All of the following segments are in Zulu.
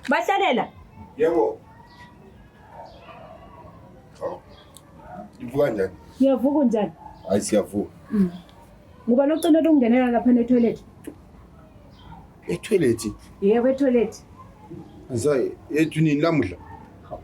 Bahlalela. Yebo. Oh. Ivuka njani? Ngiyavuka njani? Hayi siyavuka. Mm. Ngoba nocela ukungenela lapha ne toilet. E toilet? Yebo e toilet. Ngisayi ethu nini lamuhla?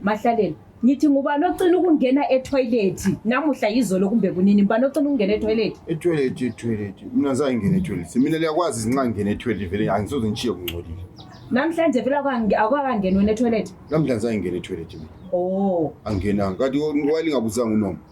Mahlaleni, ngithi ngubani ocina ukungena ethoyilethi namuhla yizolo kumbe kunini ngubani ocina ukungena ethoyilethi? Ethoyilethi, ethoyilethi. Mina ngizange ngingene ethoyilethi. Mina liyakwazi izinxa ngingena ethoyilethi vele angisoze ngishiye kungcolile. Namhlanje vele akange- akakangeni wena ethoyilethi? Namhlanje ngizange ngingene ethoyilethi mina. Oh, Angingenanga. Kanti wayelingabuzanga unoma.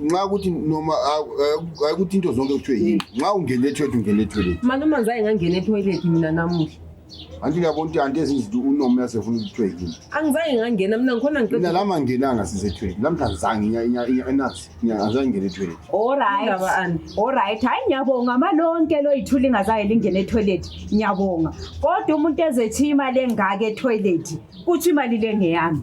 nxa ukuthi noma ayikuthi into zonke kuthiwe yini mm. nxa ungena etoilet ungena etoilet mani uma ngizaye ngangena etoilet mina namuhla anti uyabona ukuthi anti ezinzidi unoma uyasefuna ukuthiwe yini angizaye ngangena mina ngikhona ngina lama ngenanga sisetoilet lamhla ngizange enazi ngizange ngena etoilet olright olright hhayi ngiyabonga amalonke loyithula ingazaye lingena etoilet ngiyabonga kodwa umuntu ezethi imali engaka etoilet kuthi imali le ngeyami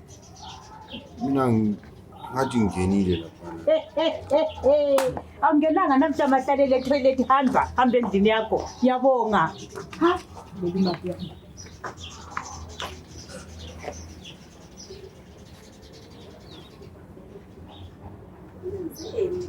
Mina ngi- ngathi ngingenile laphana. awungenanga namhla mahlalele etoilet hamba hamba endlini yakho yabonga Ha? Leli mali yami.